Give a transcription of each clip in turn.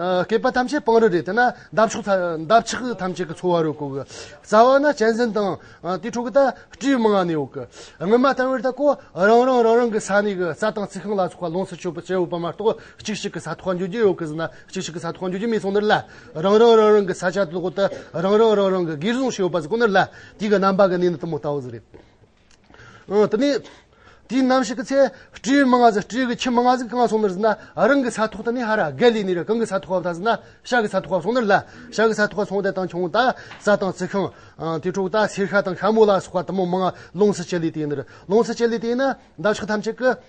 བསྐལ་པ་ཐམས་ཅད་སྤང་རི་རེད་དེ་ན་འདབ་ཆགས་འདབ་ཆགས་ཐམས་ཅད་ཀྱི་འཚོ་བ་རོལ་གོ་གི། རྩ་བ་ན་གཅན་གཟན་དང། དེའི་འཕྲོ་གི་ད་སྤྲེའུ་མང་ང་ནི་ཡོད་གི། སྔོན་མ་ལྟར་བས་ད་ཀོ་རང་རང་རང་རང་གི་ས་གནས་ཀྱི་རྩྭ་ཐང་རྩི་ཤིང་ལ་སོགས་པ་ལོངས་སུ་སྤྱོད་པའི་སྐྱེ་བོ་པ་མ་གཏོགས་གཅིག་གཅིག་གི་ས་ཐོག་འགྱོད་ཀྱི་ཡོད་གི་ཟེར་ན་གཅིག་གཅིག་གི་ས་ཐོག་འགྱོད་ཀྱི་མི་སོང་ནི་ལ། རང་རང་རང་རང་གི་ས་ཆ་དེ་ཐོག་ཏུ་རང་རང་རང་རང་གི་སྒེར་བཟུང་ཞིག་ཡོད་པ་ཟེར་གོ་ནི་ལ། དེ་གི་རྣམ་པ་གི་གནས་ནི་དུ་མ་ལྟ་བུ་ཟེར་རེད། དེ་ནས་དེའི་ནམ་ཞིག་གི་ཚེ། སྤྲེའུའི་མིང་ང་ཟིག་སྤྲེའུ་གི་ཁྱི་མིང་ང་ཟིག་གང་སོང་མེད་ཟིན་ན། རང་གི་ས་ཐོག་ཏུ་ནི་ཧ་ར་གྷལ་ལི་ནི་ར་གང་གི་ས་ཐོག་བབས་ད་ཟིན་ན། ཤ་གི་ས་ཐོག་བབས་སོང་ནི་ལ། ཤ་གི་ས་ཐོག་སོང་དེ་དང་ཁྱུང་བདག་ས་དང་རྩི་ཤིང། དེ་དྲུག་དང་སེར་ཤ་དང་ཤ་མོ་ལ་སོགས་པ་དུ་མ་མང། ལོངས་སུ་སྤྱད་ལུས་དེ་ཡིན་ནི་ར། ལོངས་སུ་སྤྱད་ལུས་དེ་ཡིན་ན། འདབ་ཆགས་ཐམས་ཅད་ཀྱི།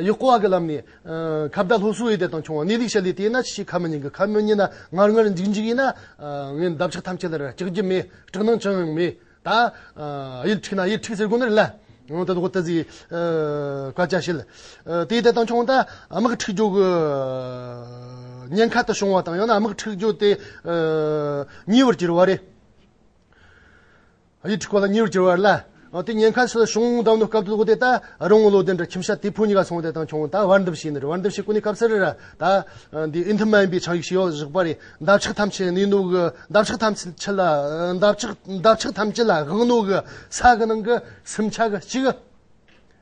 ཡུལ་སྐོར་བ་གྱི་ལམ་ནས། ཁ་བརྡ་སློབ་གསོ་འོད་སྡེར་དང་ཆུང་བ་གནས་ལུགས་བཤད་ལས་དེས་ན་ཅི་ཞིག་ཁ་མི་ཉན་གི་ཁ་མི་ཉན་ན་ངར་ངར་འཇིགས་འཇིགས་ཡིན་ན། ངས་འདབ་ཆགས་ཐམས་ཅད་ལ་ར་སྐྱག་རྒྱུ་མེད་སྐྲག་སྣང་ཅང་ཡང་མེད། ད་ཡིད་འཁྲིགས་ན་ཡིད་འཁྲིགས་ཟེར་དགོས་ནི་རེད་ལ། ད་ལྟ་ཁོ་ད་ཟིག་སྐད་ཆ་བཤད། དེ་ཡི་དེ་དང་ཆུང་བ་ད་དམག་འཁྲིགས་རྒྱུ་གི་ཉེན་ཁ་དུ་བྱུང་བ་དང་ཡང་ན་དམག་འཁྲིགས་རྒྱུ་དེ་ཉེ་བར་གྱུར་བ་རེད། ཡིག་ཐིག་གོ་ལ་གཉིས་རུ་གྱུར་བ་ལ། དེ་ཉེན་ཁ་སོགས་བྱུང་བདམས་ནོར་སྐབས་དུ་དེ་ད་རུང་བློ་ལྡན་གྲ་ཁྱིམ་ཤ་ཏི་ཕུ་གཉིས་ཀ་སོང་དེ་དང་ཁྱོང་ད་བར་འདུམ་བྱས་ནི་རེད་བར་འདུམ་བྱས་ཀུ་ནི་སྐབས་སར་ར་ད་འདི་ཨི་མཐུན་མ་ཡིན་པའི་ཆང་ཡིག་ཞིག་ཡོག་བཞག་པ་རེད་འདབ་ཆགས་ཐམས་ཅད་ནི་ནུག་གི་འདབ་ཆགས་ཐམས་ཅད་ལ་འདབ་ཆགས་ཐམས་ཅད་ལ་དབང་ནུག་གི་ས་གི་ནང་གི་སིམ་ཆགས་གཅིག།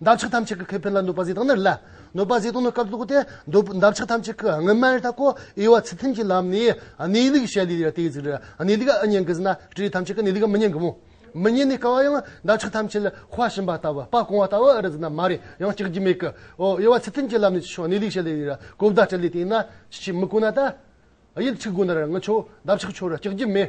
འདབ་ཆགས་ཐམས་ཅད་ཀྱི་ཁེ་ཕན་ལ་གནོད་པ་བཟོས་དང་ནི་ལ་གནོད་པ་བཟོས་དང་ནི་སྐབས་སུ་གོ་སྟེ། འདབ་ཆགས་ཐམས་ཅད་ཀྱི་དངོས་སྨན་རི་དྭགས་ཀོ་དབྱེ་བ་ཚུལ་མཐུན་གྱི་ལམ་ནས་གནས་ལུགས་བཤད་ལུས་ལ་དེའི་གཟུགས་རི་གནས་ལུགས་ཨི་སྙན་གྱི་གཟུགས་ན་སྤྲུལ་ཐམས་ཅད་ཀྱི་གནས་ལུགས་མི་སྙན་གྱི་མོ། མི་སྙན་ནི་ཀ་བ་ཡང་འདབ་ཆགས་ཐམས་ཅད་ལ་དཔའ་བྱིན་པ་ལྟ་བུ་དཔའ་བཀང་བ་ལྟ་བུ་ཨི་རེད་ཟེར་ན་མ་རེད་ཡང་གཅིག་རྒྱུ་མེད་ཀི། ཨོ་དབྱེ་བ་ཚུལ་མཐུན་གྱི་ལམ་ནས་ཅི་ཕྱོགས་གནས་ལུགས་བཤད་ལུས་ལ་གོ་བརྡ་སྤྲད་ལུས་དེ་ཡིན་ན་ཅི་བྱས་མི་གོ་ན་ད། ཡིད་ཆེས་སྒོ་ནས་ར་ངི་ཆོག་འདབ་ཆགས་ཆོག་ར་གཅིག་རྒྱུ་མེད།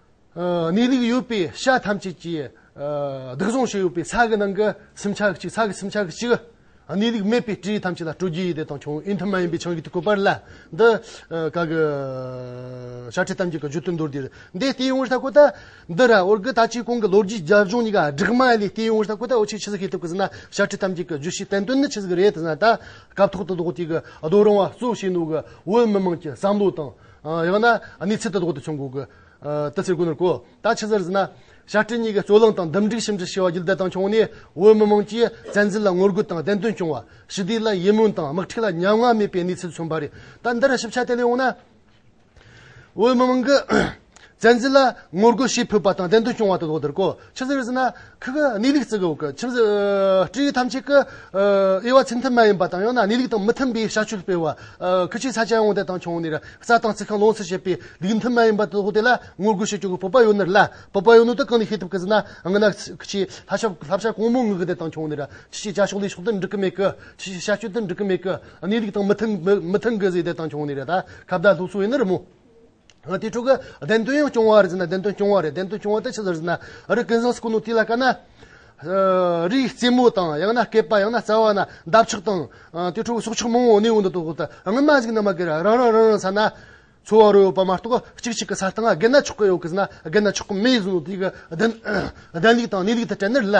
གནས་ལུགས་ཡོད་པའི་ཤ་ཐམས་ཅད་ཀྱིས་སྡུག་བཟུང་བྱས་ཡོད་པའི་ཚ་གི་ནང་གི་སེམས་ཆགས་གཅིག་ཚ་གི་སེམས་ཆགས་གཅིག་གིས་གནས་ལུགས་མེད་པའི་དྲི་ཐམས་ཅད་ལ་སྤྲོ་སྒྱུའི་ཡི་དྭགས་དང་ཆུང་ཨེ་མཐུན་མ་ཡིན་པའི་ཆང་གིས་གོས་པར་ལ་འདི་ག་གི་ཤ་ཁྲེ་ཐམས་ཅད་ཀྱི་རྒྱུ་དོན་མདོར་བསྡུས་འདི་ལྟེ་ཡོང་བར་བྱ་དགོས་ད། འདི་ར་ཨོར་གི་ད་ཅིའི་གོང་གི་ལོ་རྒྱུས་རྒྱབ་ལྗོངས་གཉིས་ཀ་སྦྲགས་མ་ལས་ལྟེ་ཡོང་བར་བྱ་དགོས་ད་འོ་ཆེ་ཆི་ཟིག་ཤེས་ཐུབ་གི་ཟིན་ན་ཤ་ཁྲེ་ཐམས་ཅད་ཀྱི་རྒྱུ་ཤེས་བསྟན་དོན་ནི་ཆི་ཟིག་རེད་ཟིན་ན་ད་སྐབས་ཐོག་ཏུ་ལོག་ཅིག་གི་རྡོ་རིང་བ་གཙོ་བྱས་ནོ་གི་བོད་མི་དམངས་ཀྱི་བསམ་བློ་དང་ཡང་ན་གནས་ཚད་དུ་ལྡོག་སྟེ་བྱུང་དགོས། དེ་ཚེ་གུ་ནུར་གོ། ད་ཕྱི་ཟེར་ཟིན་ན། བྱ་སྤྲེལ་གཉིས་ཀའི་རྩོད་གླེང་དང་འདུམ་འགྲིག་ཞིབ་འབྲི་བྱས་པ་རྒྱུད་འདི་དང་བྱུང་ནས་བོད་མི་མང་གིས་བཙན་འཛུལ་ལ་ངོ་རྒོལ་དང་བདེན་དོན་སྐྱོང་བ། ཞི་བདེ་ལ་ཡིད་སྨོན་དང་དམག་འཁྲིག་ལ་ཉམ་ང་མེད་པའི་གནས་ཚུལ་མཚོན་པ་རེད། ད་འདིར་ཞིབ་ཆ་དེ་ལས་འོངས་ན། བོད་མི་མང་གིས་བཙན་འཛུལ་ལ་ངོ་རྒོལ་བྱེད་ཕོད་པ་དང་བདེན་དོན་སྐྱོང་བ་དང་དོགས་དོན་གོ་ཆོད་ཟེར་བའི་ཚིག་ནི་ཁག་གནས་ལུགས་བརྩི་དགོས་ཁྱིམ་སྤྲེའུ་ཐམས་ཅད་ཀྱི་དབྱེ་བ་ཚིག་མཐུན་མ་ཡིན་པ་དང་ཡང་ན་གནས་ལུགས་དང་མི་མཐུན་པའི་བྱ་སྤྱོད་སྤེལ་བ། ཁུ་བྱུག་ས་ཆ་ཡོངས་འདེད་དང་ཆུང་ནས་རྩྭ་དང་རྩི་ཤིང་ལོངས་སུ་སྤྱད་པའི་ལུགས་མཐུན་མ་ཡིན་པ་དང་དོགས་དེ་ལ་ངོ་རྒོལ་བྱེད་སྐྱོང་གི་བོད་པ་ཡོད་ནི་ལ་བོད་པ་ཡོད་ནི་དེ་གང་ནས་ཤེས་ཐུབ་ཀི་ཟེར་ན་རྔ་ནག་ཁུ་བྱུག་ལྷ་ཆབ་ལྷ་བྱ་གང་མོས་ངག་འདེད་དང་ཆུང་ནས་ཁྱི་ཞེས་བྱ་ཕྱོགས་ལས་ཕྱོགས་དེར་འགྲིག་གི་མེད་ཀི་ཁྱི་ཞེས་བྱ་སྤྱོད་དེར་འགྲིག་གི་མེད་ཀི་གནས་ལུགས་དང་མི་མཐུན་གི་ཟེར་འདེད་དང་ཆུང་ནས་ད་ཁ་བརྡ་སློབ་གསོ་ཡིན་ནི་རི་མོ། དེ་ཕྲུ་གུ་བདེན་དོན་ཡང་སྐྱོང་བ་རེད་ཟེར་ན་བདེན་དོན་སྐྱོང་བ་རེད་བདེན་དོན་སྐྱོང་བ་དེ་ཅི་ཟེར་ཟེར་ན་རི་ཀན་ཟཱིས་སྐུ་ནུ་དེ་ལ་བཀལ་ན། རིའི་རྩེ་མོ་དང་ཡང་ན་བསྐལ་པ་ཡང་ན་རྩ་བ་ན་འདབ་ཆགས་དང། དེ་ཕྲུ་གུ་སྲོག་ཆགས་མང་བོ་གནས་འོག་འདུག་འདུག་ད་སྔོན་མ་ཟིག་ནམ་མ་གིར་རང་རང་རང་རང་ས་ན་འཚོ་བ་རོལ་ཡོད་པ་མ་གཏོགས་གཅིག་གཅིག་གི་ས་སྟེང་ང་རྒས་ན་ཆོག་གི་ཡོད་གི་ཟེར་ན་རྒས་ན་ཆོག་གི་མེད་ཟེར་ནོ་དེ་གི་བདེན་ལུགས་དང་གནས་ལུགས་དེ་དྲན་ནི་རེད་ལ།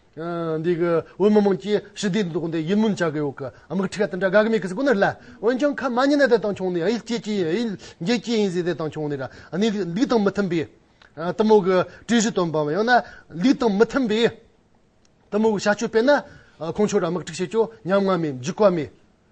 འདི་གི་བོད་མི་དམངས་ཀྱིས་ཞི་བདེའི་མདོ་སྡེ་ཡིད་སྨོན་བྱ་དགོས་འོག་གི་དམག་འཁྲི་ཁ་དེ་འདྲ་དགའ་གི་མེད་གི་ཟིག་གོ་ནི་ལ། འོན་ཀྱང་ཁ་མ་ཉན་ན་དེ་དང་ཆུང་ནས་ཡིད་སྐྱེད་ཀྱིས་ཡིན་འགྱེད་ཀྱིས་ཡིན་ཟིག་དེ་དང་ཆུང་ནས་ར་ནི་ལུགས་དང་མི་མཐུན་པའི་གཏི་མུག་གི་དྲི་གཞི་བཏོན་པའམ་ཡང་ན་ལུགས་དང་མི་མཐུན་པའི་གཏི་མུག་གི་བྱ་སྤྱོད་སྤེལ་ན་ཁོང་ཆོས་ར་དམག་འཁྲི་བྱེད་ཀྱོ་སྙམ་ང་མེད་འཇིགས་པ་མེད།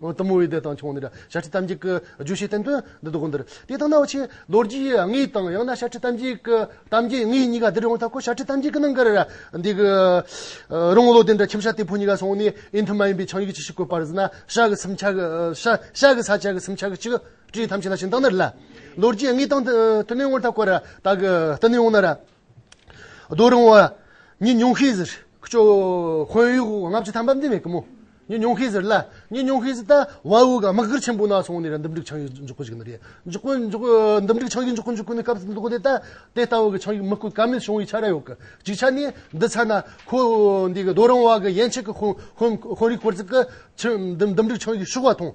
གཏུམ་མོའི་སྡེ་དང་ཆུང་ནས་ཤ་ཁྲི་གཏམ་རྒྱུད་ཀྱི་རྒྱུད་བཤད་བསྟན་དོན་འདི་དགོངས་འདིར་དེ་ལྟ་ན་འོ་ཆེན་ལོ་རྒྱུས་དངོས་དང་ཡང་ན་ཤ་ཁྲི་གཏམ་རྒྱུད་ཀྱི་གཏམ་རྒྱུད་དངོས་གཉིས་ཀ་འདིར་ཡོང་ཐབས་ཁོ་ཤ་ཁྲི་གཏམ་རྒྱུད་ཀྱི་ནང་གི་འདི་གི་རོང་ལོ་དེ་འདྲ་ཁྱིམ་ཤ་སྟེགས་བུ་གཉིས་ཀ་སོང་ནས་ཨི་མཐུན་མ་ཡིན་པའི་ཆང་ཡུག་ཅི་ཞིག་བཀོད་པར་གཟིགས་ན་ཤ་གི་སིམ་ཆ་ཤ་གི་ས་ཆ་གི་སིམ་ཆ་གི་ཆིག་སྒྲིལ་ཐམས་ཅད་ལ་ཞིང་དང་ནི་རི་ལ། ལོ་རྒྱུས་དངོས་དང་མཐུན་ནས་ངོ་ཐབས་ཁོ་ར་དྭགས་ཀྱི་ལྟ་ནས་ཡོང་ན་ར། རྡོ་རིང་བ། ཉི་ཉུང་ཤས་ཟེར། ཀྱོ། ཁོན་ཡུག་བ་ལྔ་བཅུ་ཐམ་པ་འདི་མེད་གི་མོ། ཉི་ཉུང་ཤས་ཟེར་ལ། ཉི་ཉུང་ཤས་ཟེར་ད། བ་འུག་དམག་སྒར་ཆེན་པོ་ན་སོང་ནས་ར་འདུམ་འགྲིག་ཆང་ཡུག་འཇོག་གི་ཞིག་ན་རེ། འཇོག་གི། འཇོག་གི། འདུམ་འགྲིག་ཆང་ཡུག་འཇོག་གི་འཇོག་གི་ནི་སྐབས་སུ་འདུག་གོ་དེ་ད། དེ་ལྟ་བུ་གི་ཆང་ཡུག་མི་དཀོན་ཀ་མེད་བྱུང་བའི་ཆ་ར་ཡོད་གི། གཅིག་ཆ་ནི། འདི་ཚ་ན། ཁོ། འདི་གི་རྡོ་རིང་བ་གི་ཡན་ཆད་ཀྱི་ཁོན། ཁོན་རིགས་སྐོར་ཚིག་གི། ཆུ། འདུམ་འགྲིག་ཆང་ཡུག་ཤུག་བ་མཐོང།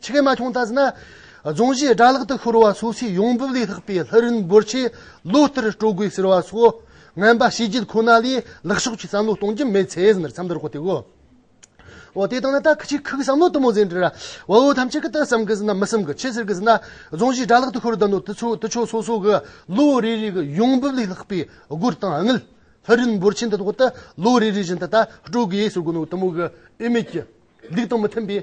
ཕྱི་རྒྱལ་མ་འཁྱོངས་བལྟ་ཟིན་ན། རྫོང་གཞིས་སྦྲ་ལག་ཏུ་ཤོར་བ་སོགས་ཆེས་ཡོང་འབབ་ལས་ལྷག་པའི་ལྷ་རིན་འབོར་ཆེན་ལོ་ལྟར་སྤྲོད་དགོས་ཟེར་བ་སོགས་ངན་པ་བྱས་རྗེས་ཁོ་ན་ལས་ལེགས་ཕྱོགས་ཀྱི་བསམ་བློ་གཏོང་རྒྱུ་མེད་ཚེ་ཟེར་མཚམས་འདིར་གོ་ཐོས་གོ། འོ་དེ་དང་ན་ད་ཁྱི་ཁྱི་ཁུག་བསམ་བློ་དུ་མོ་ཟེར་འདྲི། བ་འུ་ཐམས་ཅད་ཀྱི་ཏི་བསམ་གི་ཟིན་ན་མི་བསམ་གི་ཁྱི་ཟེར་གི་ཟིན་ན་རྫོང་གཞིས་སྦྲ་ལག་ཏུ་ཤོར་ད་ནོ་དུ་ཚོད་དུ་ཆོད་སོ་སོ་གི་ལོ་རེ་རེ་གི་ཡོང་འབབ་ལས་ལྷག་པའི་སྒོར་གཏང་དངུལ་ལྷ་རིན་འབོར་ཆེན་འདི་ཐོག་ཏུ་ལོ་རེ་རེ་བཞིན་དུ་ད་སྤྲོད་དགོས་ཟེར་དགོས་ནོ་དུ་མོ་གི་འོས་མེད་ཀྱི་ལུགས་དང་མི་མཐུན་པའི།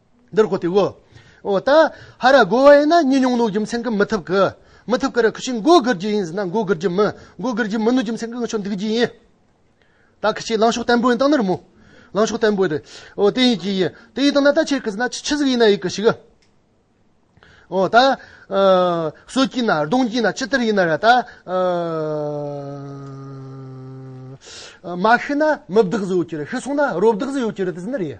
འདིར་གོ་ཏེ། འོ་ད་ཧ་ར་གོ་བ་ཡིན་ན་གཉིས་ཉུང་ནོ་རྒྱུ་མཚན་གྱི་མི་ཐུབ་ཀི། མི་ཐུབ་ཀི་ར་ཁུ་ཤི་མགོ་སྒུར་རྒྱུ་ཡིན་ཟེར་ན་མགོ་སྒུར་རྒྱུ་མི་མགོ་སྒུར་རྒྱུ་མི་ནོ་རྒྱུ་མཚན་གྱི་ངི་ཆོ་འདུག་རྒྱུ་ཡིན། ད་ཁུ་ཤི་ལང་ཕྱོགས་བརྟན་པོ་ཡིན་སྟངས་ནི་རི་མོ། ལང་ཕྱོགས་བརྟན་པོ་ཡིན། འོ་དེ་ཡིན་གྱི་ཡིན། དེ་ཡིན་སྟངས་ན་ད་ཁྱེད་ཀི་ཟེར་ན་ཆུ་ཆུ་ཟིག་ཡིན་ན་ཡིན་གི་ཤིག། འོ་ད། སོ་སྐྱིན་ན་རྡུང་སྐྱིན་ན་ཅི་ལྟར་ཡིན་ན་ར་ད། མ་ཤི་ན་མི་བདག་ཟིག་ཡོད་ཀྱི་རེད་ཤི་སོང་ན་རོ་བདག་ཟིག་ཡོད་ཀྱི་རེད་དེ་ཟེར་ན་རེད།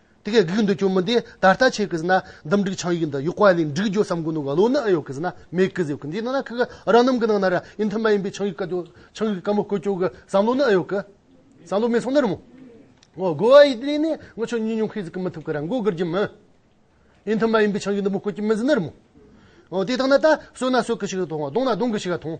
དེ་སྐད་གིས་འདོད་ཀྱང་མི་འདེད་ད་ལྟ་ཆེ་གི་ཟིན་ན་འདུམ་འགྲིག་ཆང་ཡིག་འདི་ཡོག་བ་ལས་འགྲིག་རྒྱུ་བསམ་གི་འདུག་ག་ལོ་ནའི་ཡོག་གི་ཟིན་ན་མེད་གི་ཟེར་གི་འདི་ནང་ན་ཁག་གི་རང་རྣམ་གི་ནང་ན་ར་ཡིན་མཐུན་མ་ཡིན་པའི་ཆང་ཡིག་ག་ཆང་ཡིག་ག་མོ་བཀོད་ཀྱོག་གི་བསམ་བློ་ནའི་ཡོག་གི་བསམ་བློ་མེད་སོང་ན་རུང་ངོ་དགོ་བ་ཡི་དེ་ལས་ནས་ངོ་ཆོ་ཉིད་ཉུང་ཤས་ཟིག་གི་མི་ཐུབ་གི་ར་མགོ་དགུར་གྱི་མི་ཡིན་མཐུན་མ་ཡིན་པའི་ཆང་ཡིག་འདི་མོ་བཀོད་ཀྱི་མི་ཟིན་ན་རུང་ངོ་དེ་དག་ན་ད་བསོད་ན་བསོད་གི་ཞིག་ག་ཐོང་གདོང་ན་གདོང་གི་ཞིག་ག་ཐོང།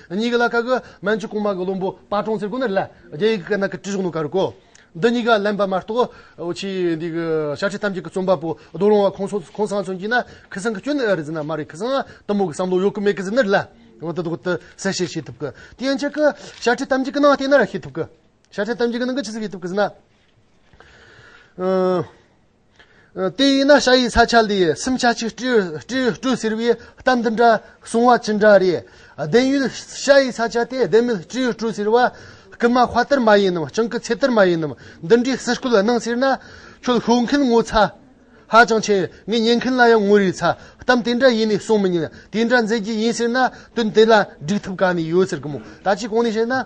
གཉིས་ཀྱི་ལ་ཁ་གི་མན་ཇུ་གོང་མ་གི་བློན་པོ་པ་ཀྲོང་ཚེར་དགོན་ནི་ལ་རྒྱ་ཡིག་གི་སྐད་ནང་གི་བྲིས་གཞུང་ནང་ག་རུ་གོ། འདི་གཉིས་ཀ་ལན་པ་མ་གཏོགས་ཕྱིའི་འདི་གི་ཤ་ཁྲི་ཐམས་ཅད་ཀྱི་རྩོམ་པ་པོ་རྡོ་རོང་བ་ཁོང་ཚོ་ཁོང་སང་ཚོ་མཆིས་ན་ཁི་སང་གི་སྐྱོན་ནི་ཨེ་རེད་ཟེར་ན་མ་རེད་ཁི་སང་དུ་མོ་གི་བསམ་བློ་ཡོད་ཀི་མེད་ཀི་ཟེར་ནི་ལ་ཡང་དུ་དུ་གསལ་བཤད་བྱེད་ཐུབ་ཀི་དེ་ཡན་ཆད་ཀི་ཤ་ཁྲི་ཐམས་ཅད་ཀི་ནང་བལྟས་ན་ར་ཤེས་ཐུབ་ཀི་ཤ་ཁྲི་ཐམས་ཅད་ཀི་ནང་གི་ཆི་ཟིག་ཤེས་ཐུབ་ཀི་ཟེར་ན། དེ་ཡིན་ན་ཤ་ཡི་ས་ཆ་ལས་སེམས་ཆ་གཅིག་སྤྲོས་ཟེར་བའི་གཏམ་འདི་འདྲ་གསུང་བ་ཅི་འདྲ་རེད། བདེན་ཡོད་ཤ་ཡི་ས་ཆ་དེ་བདེན་མེད་སྤྲོས་སྤྲོས་ཟེར་བ་རྐུན་མ་དཔའ་དར་མ་ཡིན་ནམ་སྤྱང་ཀི་ཚེ་དར་མ་ཡིན་ནམ་འདི་འདྲའི་ཟིག་སྐུལ་གནང་ཟེར་ན་ཁྱོད་ཤོད་མཁན་ངོ་ཚ་ཧ་ཅང་ཆེ་ངས་ཉན་མཁན་ལ་ཡང་ངོ་རེ་ཚ་གཏམ་དེ་འདྲ་ཡིན་ནས་གསུང་མི་ཉན་དེ་འདྲ་མཛད་རྒྱུ་ཡིན་ཟེར་ན་དོན་དེ་ལ་འགྲིག་ཐུབ་ག་ནས་ཡོད་ཟེར་གི་མོད་ད་ཅི་གང་ནས་བཤད་ན།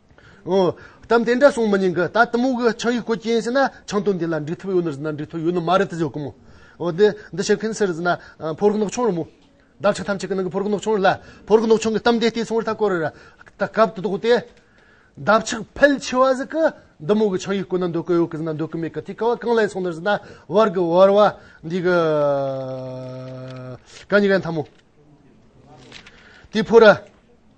གཏམ་དེ་འདྲ་གསུངས་མི་ཉན་གི་ད་གཏི་མུག་གི་ཆང་ཡིག་བཀོད་ཀྱིན་ཟེར་ན་ཆང་དོན་འདི་ལ་འགྲིག་ཐུབ་ཡོད་ནི་ཟེར་ན་འགྲིག་ཐུབ་ཡོད་ནི་མ་རེད་དུ་བརྗོད་ཀྱི་མོད། འོ་དེ་འདི་བྱེད་མཁན་སུ་རེད་ཟེར་ན་ཕོ་རིགས་ནག་ཆུང་རེད་མོད། བདག་ཅག་ཐམས་ཅད་ཀྱི་ནང་གི་ཕོ་རིགས་ནག་ཆུང་རེད་ལ་ཕོ་རིགས་ནག་ཆུང་གི་གཏམ་དེ་ལྟའི་ཚོང་ར་ཐ་སྐོར་རེ་ར་ད་སྐབས་དེ་དོགས་ཏེ། འདབ་ཆགས་ཕལ་ཆེ་བ་ཟིག་གི་གཏི་མུག་གི་ཆང་ཡིག་བཀོད་ན་འདོད་གི་ཡོད་གི་ཟེར་ན་འདོད་གི་མེད་གི་དེ་ཀ་བ་གང་ལས་ཚོང་ནི་ཟེར་ན་བར་གི་བར་བ་འདི་གི་ག་ཉི་ག་ཡིན་ཐ་མོ། དེ་ཕོ་ར།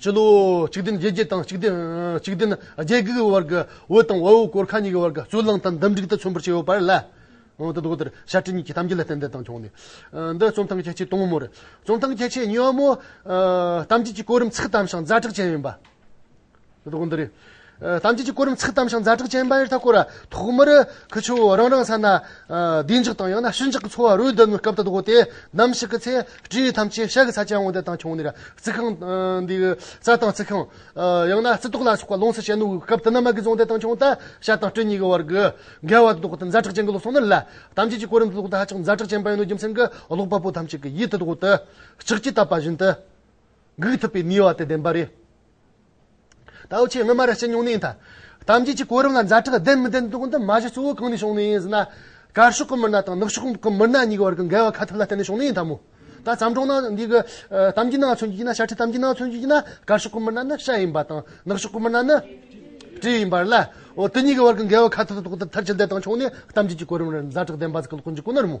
སྤྱི་ལོ་གཅིག་བདུན་བརྒྱད་བརྒྱད་དང་གཅིག་བདུན་གཅིག་བདུན་བརྒྱད་བརྒྱད་ཀྱི་བར་གྱི་འོད་དང་འོད་སྐོར་ཁ་གཉིས་ཀྱི་བར་གྱི་རྩོད་གླེང་དང་འདུམ་འགྲིག་དང་མཚོན་པར་བྱས་ཡོད་པར་ལ། འོན་ཏེ་དོགས་འདིར་ཞབས་ཀྱི་གཉིས་ཀྱི་གཏམ་རྒྱུད་ལ་རྟེན་འབྲེལ་དང་འབྱུང་གནས་འདི་རྩོམ་སྟངས་ཁྱད་ཆོས་དུམ་བུ་མོར། རྩོམ་སྟངས་ཁྱད་ཆོས་གཉིས་བ་མོ། གཏམ་རྒྱུད་ཀྱི་གོ་རིམ་ཚིག་གི་གཏམ་ཞིང་རྫ་དྲག་ཅན་ཡིན་པ། རྡོག་འདི་རེད། གཏམ་རྒྱུད་ཀྱི་སྐོར་རམ་ཚིག་གཏམ་ཞིང་མཛའ་གྲོགས་ཅན་པ་ཡོད་ད་བསྐོར་བ་ཐོག་མར་ཁུ་ཆུ་བོ་རང་རང་ས་ན་བདེ་འཇགས་དང་ཡང་ན་ཞི་འཇགས་ཀྱི་འཚོ་བ་རོལ་དུ་སྐབས་དང་བོ་དེ་ནམ་ཞིག་གི་ཚེ་སྤྲེའུ་ཐམས་ཅད་ཤ་གི་ས་ཆ་འོང་དུས་དང་ཁྱུང་ནི་རྩི་ཁང་འདི་རྩྭ་ཐང་རྩི་ཁང། ཡང་ན་རྩི་ཏོག་ལ་སོགས་པ་ལོངས་སུ་སྤྱད་ནུས་སྐབས་དེ་ནམ་མ་གི་རྫོང་དེ་དང་ཁྱུང་ད་ཤ་དང་སྤྲེ་གཉིས་ཀྱི་བར་གྱི་འགལ་བ་དང་ཐོག་མཛའ་གྲོགས་ཅན་གྱི་ལོ་སོང་ནི་ལ་གཏམ་རྒྱུད་ཀྱི་སྐོར་རམ་ཚིག་ལོག་ཏུ་ཧ་ཅང་མཛའ་གྲོགས་ཅན་པ་ཡིན་ནོ་རྒྱུ་མཚན་གྱི་ཀློག་པ་པོ་ཐམས་ཅད་ཀྱི་ཡིད་དུ་ཐོག་ཏུ་ལྕགས་ཀྱིས་བཏབ་པ་བཞིན་དུ་འགུགས་ཐུབ་པའི་ནུས་བ་དེ་ལྡན་པ་རེད། ད་འོ་ཆེ་སྔོན་མ་ར་སྤྱི་ཉུང་ནས་ཡིན་ད། དམ་བཅས་ཀྱི་གོ་རིམ་ལ་མཛའ་གྲགས་ལྡན་མི་ལྡན་དོགས་འདི་མ་གཞི་གཙོ་བོ་གང་ནས་བྱུང་ནས་ཡིན་ཟེར་ན། དཀར་ཕྱོགས་ཀྱི་མི་སྣ་དང་ནུབ་ཕྱོགས་ཀྱི་མི་སྣ་གཉིས་ཀྱི་བར་གྱི་འགལ་བ་ཁ་ཐབས་ལ་བརྟེན་ནས་བྱུང་ནས་ཡིན་ད་མོ། ད་བརྩམས་སྒྲུང་ནང་འདི་གི། གཏམ་གྱི་ནང་མཚོན་རྒྱུ་ཡིན་ན་ཤ་ཁྲི་གཏམ་གྱི་ནང་མཚོན་རྒྱུ་ཡིན་ན་དཀར་ཕྱོགས་ཀྱི་མི་སྣ་ནི་ཤ་ཡིན་པ་དང་ནུབ་ཕྱོགས་ཀྱི་མི་སྣ་ནི། གྲི་ཡིན་པར་ལ། འོ་དེ་གཉིས་ཀྱི་བར་གྱི་འགལ་བ་ཁ་ཐབས་དོགས་འདི་མཐར་ཕྱིན་འདི་དང་བྱུང་ནས་དམ་བཅས་ཀྱི་གོ་རིམ་ལ་མཛའ་གྲགས་ལྡན་པ་ཟིག་གི་ལྐོག་འཇུག་ཀུན་ནར་མོ།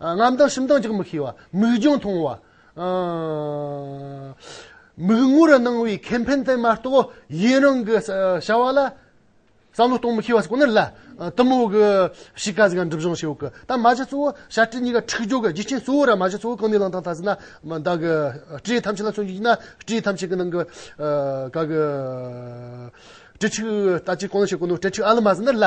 རྔམ་དང་ཞིམ་དང་འཇག་མི་ཤེས་པ། མིག་རྒྱང་ཐུང་བ། མིག་སྔུར་སྣང་བའི་ཁེ་ཕན་དེ་མ་གཏོགས་ཡུན་རིང་གི་བྱ་བ་ལ་བསམ་བློ་གཏོང་མི་ཤེས་པ་ཞིག་ཁོ་ནར་སླ། གཏི་མུག་གི་གཤིས་ཀ་ཟིག་ལ་འགྲིབ་སྦྱོང་བྱེད་འོས་ཀི། ད་མ་གཞི་གཙོ་བོ་བྱ་སྤྲེལ་གཉིས་ཀ་འཁྲིག་སྦྱོར་གི་རྒྱུ་རྐྱེན་གཙོ་བོ་ར་མ་གཞི་གཙོ་བོ་གང་ནས་བླངས་དང་ད་གཟིགས་ན་བདག་གི་སྤྲེལ་ཐམས་ཅད་ལ་མཚོན་རྒྱུ་ཡིན་ན་སྤྲེལ་ཐམས་ཅད་ཀྱི་ནང་གི་ག་གི་སྤྲེལ་ཕྲུག་ལྟ་ཅི་གང་ལ་བྱེད་དགོས་ནོ་སྤྲེལ་ཕྲུག་ཨ་ལ་མ་ཟིན་ནར་སླ།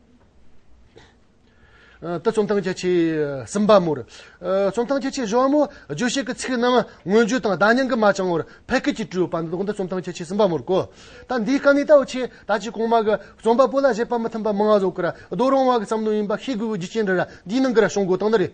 ཏུ་རྩོམ་སྟངས་རྒྱ་ཆེ་གསུམ་པ་མོར། རྩོམ་སྟངས་རྒྱ་ཆེ་བཞི་བ་མོ། རྗོད་བྱེད་ཀྱི་ཚིག་རྣམས་མངོན་བརྗོད་དང་བརྡ་རྙིང་གི་མ་བྱང་བར་ཕལ་སྐད་ཀྱིས་སྤྲོས་པ་འདི་དག་ནི་རྩོམ་སྟངས་རྒྱ་ཆེ་གསུམ་པ་མོར་གོ། ད་འདིའི་དཀའ་གནད་ལྟ་བུ་ཆེ་ད་ཅིག་གོང་མ་གི་རྩོམ་པ་པོ་ལ་བཞེད་པ་མི་མཐུན་པ་མང་བཟོ་ཀི་ར་རྡོ་རོང་བ་གི་བསམ་བློ་ཡིན་པ་ཤེས་དགོས་པའི་རྒྱུ་རྐྱེན་འདི་ར་འདིའི་ནང་གི་ར་ཤོང་དགོས་སྟངས་འདི་རེད།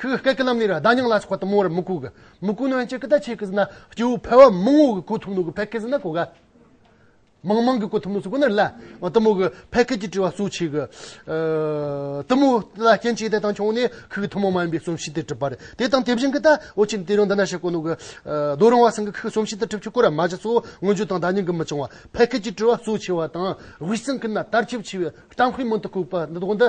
ཁོས་སྐད་ཀྱི་ལམ་ནས་ར་ད་ཉང་ལ་ཆགས་པ་དུ་མོ་རུ་མི་གོ་གི། མི་གོ་ནོན་ཅིག་གི་ད་ཆེ་གི་ཟི་ན་སྐྱེ་བོ་ཕལ་བ་མང་བོ་གི་གོ་ཐུབ་ནོ་གི་ཕལ་ཁའི་ཟི་ན་གོ་ག་མང་མང་གི་གོ་ཐུབ་ནོ་སུ་གོ་ནི་རི་ལ་ཨོ་དུ་མོ་གི་ཕལ་ཁའི་གྱི་དྲི་བ་སུ་ཆེ་གི། དུ་མོ་ལ་རྐྱེན་ཅི་དེ་དང་ཆུང་ནས་ཁུ་གི་ཐུ་མོ་མ་ཡིན་པའི་གསུམ་བྱས་ཏེ་གྲུབ་པ་རེད་དེ་དང་དེ་བཞིན་གི་ད་ཨོ་ཆེ་ནི་དེ་རིང་འདི་ན་ཤི་གོ་ནོ་གི། རྡོ་རིང་བ་སེང་གི་ཁུ་གསུམ་བྱས་ཏེ་གྲུབ་ཆུ་ཁོ་ར་མ་བཞི་སོ་སྔོན་བརྗོད་དང་ད་ཉིང་གི་མི་ཆུང་བ་ཕལ་ཁའི་གྱི་དྲི་བ་སུ་ཆེ་བ་དང་དབུས་སེང་གི་ན་དར་ཆེ་བ་ཆེ་བའི་གཏམ་དཔེ་མང་དུ་གོ་གི་པ་འདི་དོག་འདི།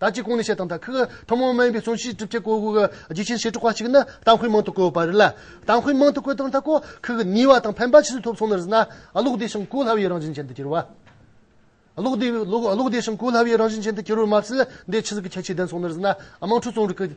ད་ཅི་གང་ནས་བཤད་དང་ད་ཁག་ཐུན་མོང་མིན་པའི་གསུང་བཤད་གྲུབ་ཆ་གོ་དགོས་ཀྱི་རྒྱུ་ཆེན་ཞེ་དྲུག་པ་གཅིག་ནི་གཏམ་དཔེ་མང་དུ་བཀོད་པ་རེད་ལ། གཏམ་དཔེ་མང་དུ་བཀོད་དང་ད་གོ་ཁག་ཉེས་བ་དང་ཕན་པ་ཇི་སྲིད་ཐོབ་སོང་ནས་ཟིན་ན། ཀློག་བདེ་ཞིང་གོ་སླ་བའི་རང་བཞིན་ཅན་དུ་གྱུར་བ། ཀློག་བདེ་ཀློག་བདེ་ཞིང་གོ་སླ་བའི་རང་བཞིན་ཅན་དུ་གྱུར་བ་མ་ཟད་འདས་ཕྱི་གཟིགས་ཀྱི་ཁྱད་ཆོས་ལྡན་སོང་ནས་ཟིན་ན་དམངས་ཁྲོད་རྩོམ་རིག་གི།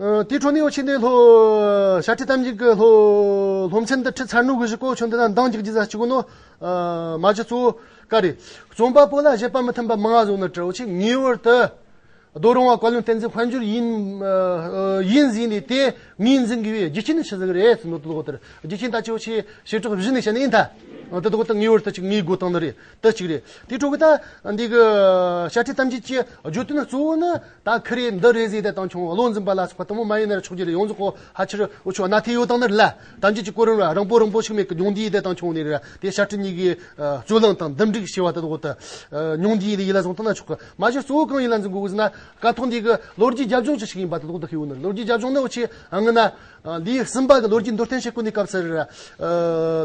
དེའི་འཕྲོ་ནི་ཨོ་ཆེན་ཏེ་ལྷོ། ཤ་ཁྲི་ཐམས་ཅད་ཀྱི་ལྷོ། ལྷོ་མཚན་དུ་ཁྲི་ཚར་ནུབ་བཞི་ཀོ་ཆུང་དེ་དག་མདངས་ཀྱི་རྒྱུ་ཟ་བྱེད་ཀུན་ནོ། མ་བྱི་གཙོ་བོ་ཀ་རེ། རྩོམ་པ་པོ་ལ་བཞེད་པ་མི་མཐུན་པ་མང་བ་བཟུང་ནས་བྲི་ཨོ་ཆེན་ངེས་བར་དུ། རྡོ་རིང་བ་བཀའ་བློན་བསྟན་འཛིན་དཔལ་འབྱོར་ཡིན། ཡིད་འཛིན་ལས་དེ་ངེས་འཛིན་དགོས་པས་རྒྱུ་རྐྱེན་ནི་ཕྱི་གཟུགས་རེད་ཟེར་ནོ་དེ་ལོག་ལྟར་རྒྱུ་རྐྱེན་ལྟ་ཅི་ཨོ་ཆེན་བྱེ་བྲག་བཞི་ནི་བཤད་ན་ཡིན་ད། དེ་ལོག་ལྟར་ངེས་བར་དུ་གཅིག་ངེས་དགོས་སྟངས་འདི་རེད། དེ་གཅིག་རེད། དེའི་ཁྲོད་ཀྱི་ད། འདི་གི། ཤ་ཁྲི་ཐམས་ཅད་ཀྱི། བརྗོད་དོན་གཙོ་བོ་ནི། ད་ཁི་རེ་འདི་རེ་ཟེར་ཏེ་བཏང་བྱུང་བློ་འཛིན་པ་ལ་སོགས་པ་དང་པོ་མ་ཡིན་ན་རེ་ཆོག་རྒྱུ་རེ་ཡོངས་རྫོགས་གོ་ཧ་ཆེར་འོ་ཆོག་ན་དེ་ཡོད་དང་ནི་རེ། ཐམས་ཅད་ཀྱི་གོ་རིམ་ར་རང་པོ་རང་པོ་ཞིག་མེད་ཀི་ཉུང་འདི་ཡི་དེ་བཏང་བྱུང་ནི་རེ་ར་དེ་ཤ་ཁྲི་གཉིས་ཀྱི། རྩོད་གླེང་དང་འདུམ་འགྲིག་ཞེས་པ་དེ་འོག་ཏུ། ཉུང་འདི་ཡི་ལས་ཡིད་ལ་བཟུང་ཐུབ་ན་ཆོག་གི། མ་གཞི་གཙོ་བོ་གང་ཡིན་ལ་འཛིན་དགོས་དགོས་ཟེར་ན། ཀ་ཐོག་འདི་གི་ལོ་རྒྱུས་རྒྱབ་ལྗོངས་ཅི་ཞིག་ཡིན་པ་དེ་འོག་ཏུ་ཤེས་ཡོང་ནི་རེ་ལོ་རྒྱུས་རྒྱབ་ལྗོངས་ནི་འོ་ཆེ་ཨང་ངེ་ན། ལི་སིམ་པཱ་གི་ལོ་རྒྱུས་མདོར་བསྟན་ཞེས་བཀོད་ནས་བཀབ་ཟེར།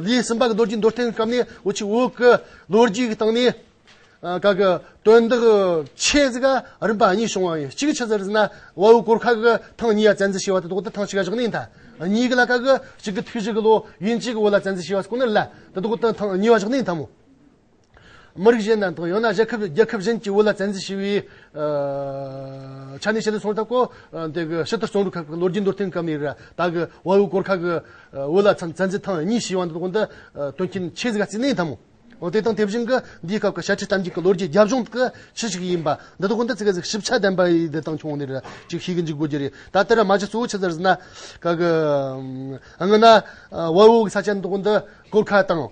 ལི་སིམ་པཱ་གི་ལོ་རྒྱུས་མདོར་བསྟན་བཀབ་ནས་འུ་ཆི་འུ་གི་ལོ་རྒྱུས་ཀྱི་སྟེང་ནས། ག་གི་དོན་དག་ཆེ་ཟིག་ག་རིམ་པ་གཉིས་བྱུང་བ་ཡིན། གཅིག་ཆི་ཟེར་ཟིན་ན་བ་འུ་གོར་ཁ་གི་ཐང་གཉིས་ཡ་བཙན་འཛུལ་བྱས་བ་དེ་དོག་དེ་ཐང་གཅིག་ག་བཞག་ནས་ཡིན་ད། གཉིས་ཀ་ལ་ག་གི་གཅིག་གི་དུས་གཅིག་གི་ལོ་ཡུན་གཅིག་གི་བོ་ལ་བཙན་འཛུལ་བྱས་བ་སུ་གོ་ནི་ལ་དེ་དོག་དེ་ཐང་གཉིས་བ་བཞག་ནས་ཡིན་ད་མོ། མི་རིགས་གཞན་དང་དང་ཡང་ན་རྒྱལ་ཁབ་རྒྱལ་ཁབ་གཞན་གྱི་དབུ་བླ་བཙན་འཛུལ་བྱས་པའི་ཆ་ནས་བཤད་དུ་སོང་ཐབས་གོ། དེ་གི་ཕྱི་དར་བཙོང་རུ་ཁག་གི་ལོ་རྒྱུས་མདོར་བསྟན་སྐབས་ནས་ར་ད་གི་དབའ་བོའི་སྐོར་ཁག་གི་དབུ་བླ་བཙན་འཛུལ་ཐང་གཉིས་ཞེས་བ་འདི་དགོན་དུ་སྟོན་མཁན་ཆོས་དགའ་ཚེ་གནས་དང་མོ། དེ་དང་དེ་བཞིན་གི་འདིའི་སྐབས་ཀྱི་ཞལ་ཁྲིད་གཏམ་རྒྱུད་ཀྱི་ལོ་རྒྱུས་རྒྱབ་ལྗོངས་ཀྱི་ཁྱི་ཞིག་ཡིན་པ་འདི་དགོན་དུ་ཚེ་དགའ་གཟིགས་ཞིབ་ཆ་ལྡན་པ་ཡི་འདི་དང་ཆུང་ནས་ར་ཅིག་ཤེས་ཀྱི་འཇུག་དགོས་ཀྱི་རེད་ད་ལྟ་ར་མ་ཅིག་གཙོ་བོ་ཆུ་ཚར་ཟི་ན་ཁག་གི་ཨ་ང་ན་དབའ་བོའི་ས་ཆ་འདི་དགོན་དུ་སྐོར་ཁག་དང།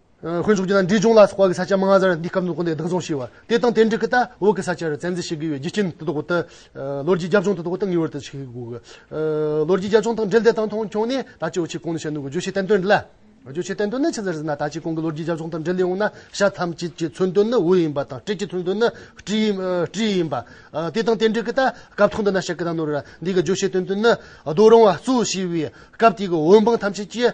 དཀོན་མཆོག་གྱིས་ན་འབྲས་ལྗོངས་ལ་སོགས་པ་གི་ས་ཆ་མང་ཟེར་བ་འདི་སྐབས་འདུག་གོ་འདི་བདག་བཟུང་ཞེས་བ། དེ་དང་དེ་འབྲེལ་གྱི་ལྟ་འོག་གི་ས་ཆར་བཙན་འཛུལ་བྱེད་དགོས་པའི་རྒྱུ་རྐྱེན་དེ་དག་གོ་སྟེ། ལོ་རྒྱུས་རྒྱབ་ལྗོངས་དེ་དག་གོ་སྟེ་ངེས་བར་དུ་ཤེས་དགོས། ལོ་རྒྱུས་རྒྱབ་ལྗོངས་དང་འབྲེལ་འདི་དང་མཐོང་ཆུང་ནས་ད་ཅི་འོ་ཆི་གོང་ནས་བཤད་འདུག་གོ་བརྗོད་བྱའི་བསྟན་དོན་འདི་ལ། བརྗོད་བྱའི་བསྟན་དོན་ནི་ཅི་ཟེར་ཟེར་ན་ད་ཅི་གོང་གི་ལོ་རྒྱུས་རྒྱབ་ལྗོངས་དང་འབྲེལ་ལས་འོངས་ན་ཤ་ཐམས་ཅད་ཀྱི་མཚོན་དོན་ནི་འོད་ཡིན་པ་དང་སྤྲེལ་གྱི་མཚོན་དོན་ནི་སྤྲིན་ཡིན་པ། དེ་དང་དེ་འབྲེལ་གྱི་ལྟ་སྐབས་ཐོག་འདི་ན་ཤ་ཀི་དང་ནོར་བུ་ར་འདི་གི་བརྗོད་བྱའི་དོན་དོན་ནི་རྡོ་རིང་བ་གཙོ་བྱས་པའི་སྐབས་དེ་གི་འོད་འབངས་ཐམས་ཅད་ཀྱིས།